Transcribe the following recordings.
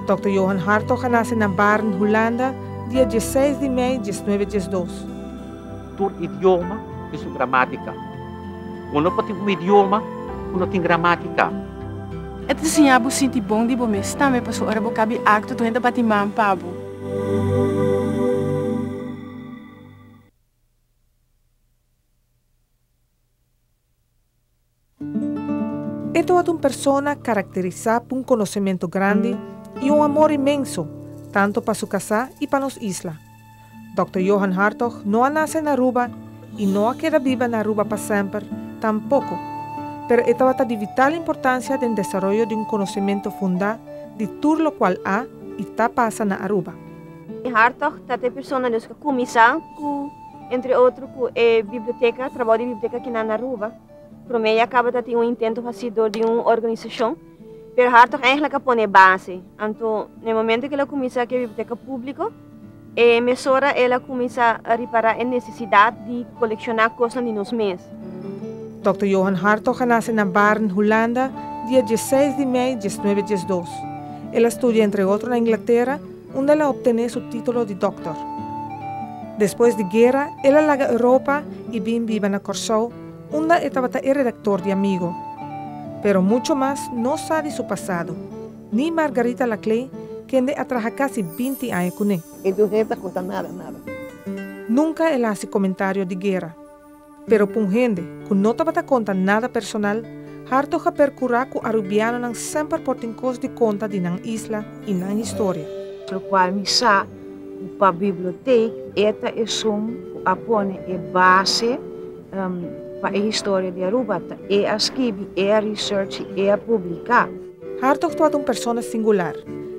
Dòkter Johan Hartog a nase na Baarn, Hulanda, dia diesseis di mei dies nuebe dies dos. Tur idioma tin su gramátika. Bo no por tin un idioma ku no tin gramátika. E ta siña bo sinti bon di bo mes tambe, pasobra ora bo kabi akto tur hende ta bati man pa bo. E tabata un persona karakterisá pa un konosementu grandi i un amor inmenso tantu pa su kasá i pa nos isla. Dòkter Johan Hartog no a nase na Aruba, I no a keda biba na Aruba pa semper tampoko, pero e tabata di vital importansia den desaroyo di un konosementu fundá di tur lokual a i ta pasa na Aruba. E Hartog ta ta e persona nos ku a kuminsá ku, entre otro, ku e biblioteka, trabou di biblioteka kinan na Aruba. Promé ya kaba ta tin un intento hasí dor di un organisashon, pero Hartog èntlik a pone e base. Anto, na e momentu ku el a kuminsá ku e biblioteka públiko, E mesora el a kuminsá ripará e nesesidat di kolekshona kosnan di nos mes. Dòkter Johan Hartog a nase na Baarn, Hulanda, dia diesseis di mei diesnuebe diesdos. El a studia entre otro na Inglatera, unda el a optené su títolo di dòkter. Despues di guera, el a laga Europa i bin biba na Kòrsou, unda e tabata e redaktor di Amigo. Pero mucho mas no sa di su pasado. Ni Margarita Laclay, kende a traha casi binti aña cune. E muher ta conta nada, nada. Nunca el a haci comentario di guera. Pero pa un hende cu no tabata conta nada personal, Hartog a percura cu Arubianonan semper por tin cos di conta di nan isla y nan historia. Locual mi sa cu pa bibliotheek e ta esun cu a pone e base pa e historia di Aruba, ta e a skibi, e a research y e a publica. Hartog tabata un persona singular.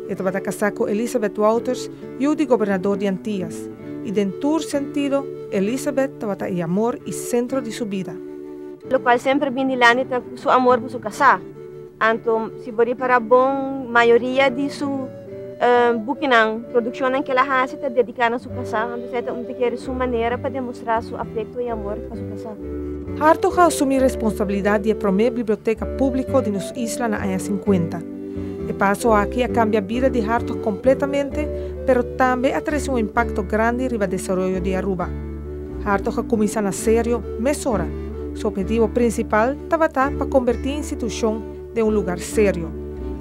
E tabata kasá ku Elizabeth Wouters, yu di gobernador di Antias, i den tur sentido Elizabeth tabata e amor i sentro di su bida. Lokual semper bin dilanti ta ku su amor pa su kasá. Anto, si bo ripará bon, mayoria di su. Um bukinan, produkshonnan k'el a hasi ta dediká na su kasá, anto esei ta un te kere su manera pa demostrá su afekto i amor pa su kasá. Hartog a asumí responsabilidat di e promé biblioteka públiko di nos isla na aña sinkuenta. E paso aki a kambia bida di Hartog kompletamente, pero tambe a trese un impakto grandi riba desaroyo di Aruba. Hartog a kuminsá na serio mesora. Su ophetivo prinsipal tabata pa kombertí institushon den un lugar serio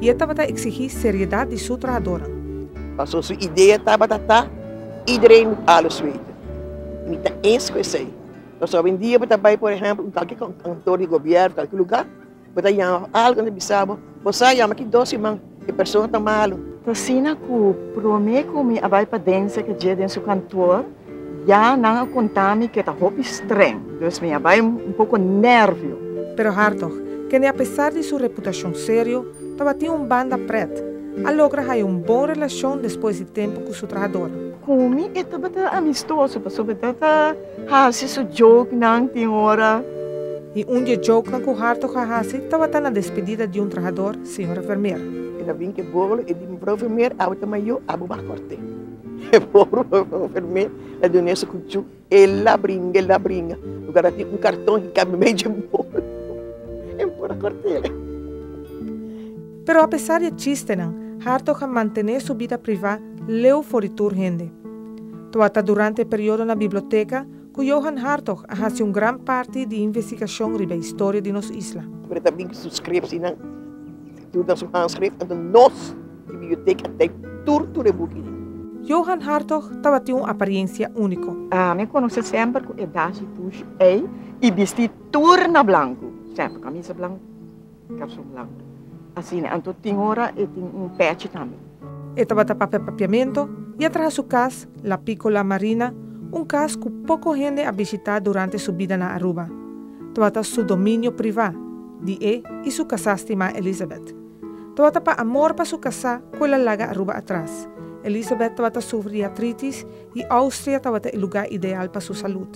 i e tabata eksigí seriedat di su trahadoran. Pasó su idea tabata ta, Iedereen moet alles weten. I mi ta eens ku esei. Paso awendia bo ta bai por ehèmpel un kalke kantor di gobièrnu, kalke lugar, bo ta yama pa algu, nan ta bisa bo, Bo sa, yama ki dos siman, e persona ta malu. T'asina ku promé ku mi a bai pa den sèke dje den su kantor, Ya, nan a konta mi ke ta hopi streng, dus mi a bai un poko nervio. Pero Hartog, kende a pesar di su reputashon serio, tabatin un banda prèt, a logra haya un bon relashon despues di tempu ku su trahador. Ku mi e tabata amistoso, pasobra e tabata hasi su joknan tin ora. I un di e joknan ku Hartog a hasi tabata na despedida di un trahador, señora Vermeer. El a bin ke bolo, e di, Mevrouw Vermeer, awe ta mayo, abo bo a kort'é. E pobre enfermera ta duna e sukuchu, el a bringa, el a bringa, lugar a tin un karton ki kabe mei dje bol, el por a kortel. Pero apesar di e chistenan, Hartog a mantené su bida privá leu for di tur hende. Tua ta durante e periodo na biblioteka ku Johan Hartog a hasi un gran parti di investigashon riba e historia di nos isla. Por e ta bin ku su skripsienan. Tur ta su handskrif anto nos di bibliotek a teipt tur tur e buki ei. Johan Hartog tabatin un aparensia úniko. Mi a konos'é semper ku e dasi pushi ei i bistí tur na blanku, semper kamisa blanku, kalson blanku. Asina anto tin ora e tin un pèchi tambe. E tabata papia papiamentu i a traha su kas, La Piccola Marina, un kas ku poko hende a bishitá durante su bida na Aruba. Tabata su dominio privá. Di e i su casá stimá Elizabeth. Tabata pa amor pa su casá cu el a laga Aruba atras. Elizabeth tabata sufri di atritis i Austria tabata e lugá ideal pa su salud.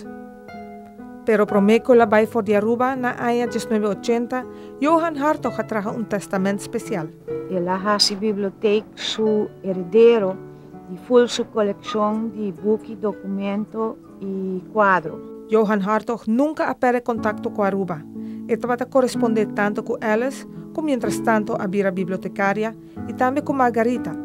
Pero promé cu el a bai for di Aruba, na aña diesnuebe ochenta, Johan Hartog a traha un testament special. El a haci bibliotek su heredero di full su coleccion di buki, documento i kuadro. Johan Hartog nunka a pèrdè kontakto ku Aruba. E tabata korespondé tantu ku Alice, ku miéntras tantu a bira bibliotekaria, i tambe ku Margarita.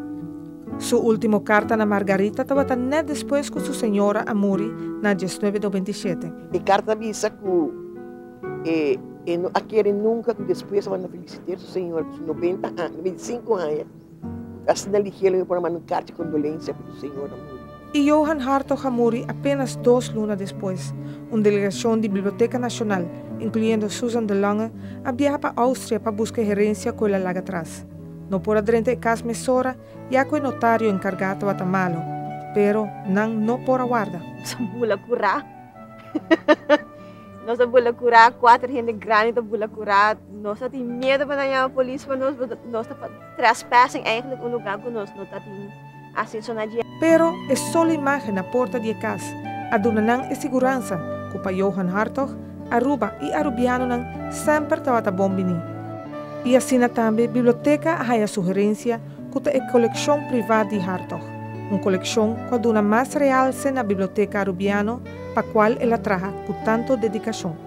Su último karta na Margarita tabata nèt despues ku su señora a muri na diesnuebe do binti shete. E karta a bisa ku e e no a kere nunka ku despues tabata felisité su señora ku su nobenta aña, nobenta i sinku aña. Gasta den di hiel mi por a manda un karta di kondolensia pa su señora muri. E. Johan Hartog a muri apenas dos luna despues. Un delegashon di Biblioteka Nashonal, inkluyendo Susan de Lange, a biaha pa Oustria pa buska e herensia ku el a laga tras. No por a drenta e kas mesora ya ku e notario enkargá tabata malo, pero nan no por a warda. Sa mula kurá. Nos ta bula kurá, kuater hende grandi ta bula kurá. Nos ta tin miedu pa nan yama polis pa nos, pasobra nos ta trespassing eigenlijk un lugá ku nos no ta tin aseso na dje. Pero e solo imágen na porta di e kas a duna nan e siguransa ku pa Johan Hartog, Aruba i arubianonan semper tabata bon biní. I asina tambe biblioteka a haña su herensia ku ta e kolekshon privá di Hartog, un kolekshon ku a duna mas realse na biblioteka arubiano, pa cual el a traha cu tanto dedicacion.